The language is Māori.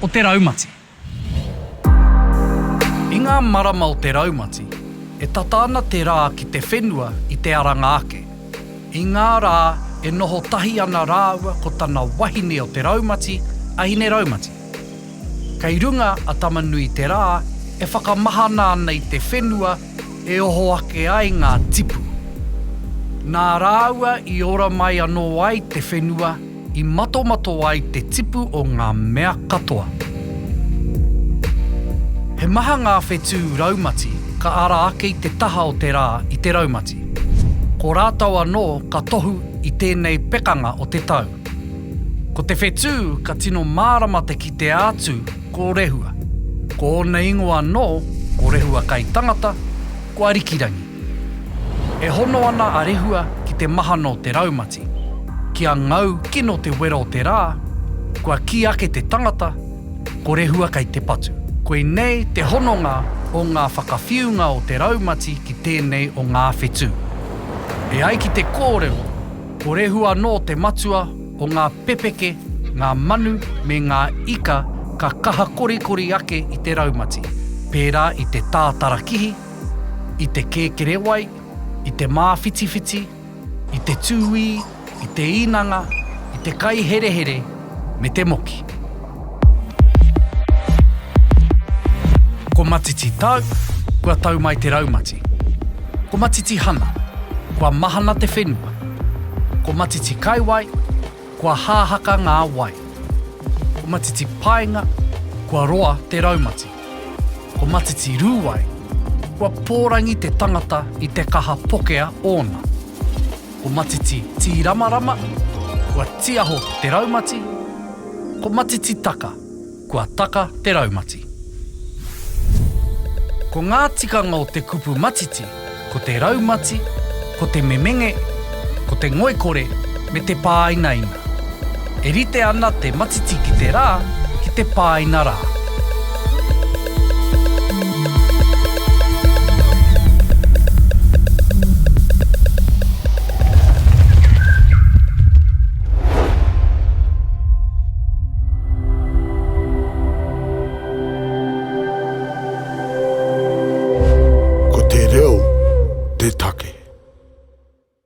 o te raumati. I ngā marama o te raumati, e tata ana te rā ki te whenua i te aranga ake. I ngā rā e noho tahi ana rāua ko tana wahine o te raumati, a Hine-raumati. Kei runga a Tama-nui-te-rā e whakamahana ana i te whenua e oho ake ai ngā tipu. Nā rāua i ora mai anō ai te whenua, I matomato ai te tipu o ngā mea katoa. He maha ngā whetū raumati ka ara ake i te taha o te rā i te raumati. Ko rātou anō ka tohu i tēnei pekanga o te tau. Ko te whetū ka tino mārama te kitea atu ko Rehua. Ko ōna ingoa anō ko Rehua kai tangata, ko Arikirangi. E hono ana a Rehua ki te mahano o te raumati. Kia ngau kino te wero o te rā, kua kī ake te tangata, Ko Rehua kei te patu. Koinei te hononga o ngā whakawhiunga o te raumati ki tēnei o ngā whetū. E ai ki te kōrero, ko Rehua anō te matua o ngā pepeke, ngā manu me ngā ika ka kaha korikori ake i te raumati, pērā i te tātarakihi, i te kēkerewai, i te māwhitiwhiti, i te tūī, i te īnanga, i te kai herehere me te moki. Ko Matiti Tau, kua tau mai te raumati. Ko Matiti Hana, kua mahana te whenua. Ko Matiti Kaiwai, Kua hāhaka ngā wai. Ko Matiti Paenga, kua roa te raumati. Ko Matiti Rūwai, kua pōrangi te tangata i te kaha pokea ōna. Ko Matiti Tīramarama, kua tiaho te raumati. Ko Matiti Taka. Kua taka te raumati. Ko ngā tikanga o te kupu matiti ko te raumati, ko te memenge, ko te ngoikore me te pāinaina. E rite ana te matiti ki te rā ki te pāina rā. Ko te reo te take.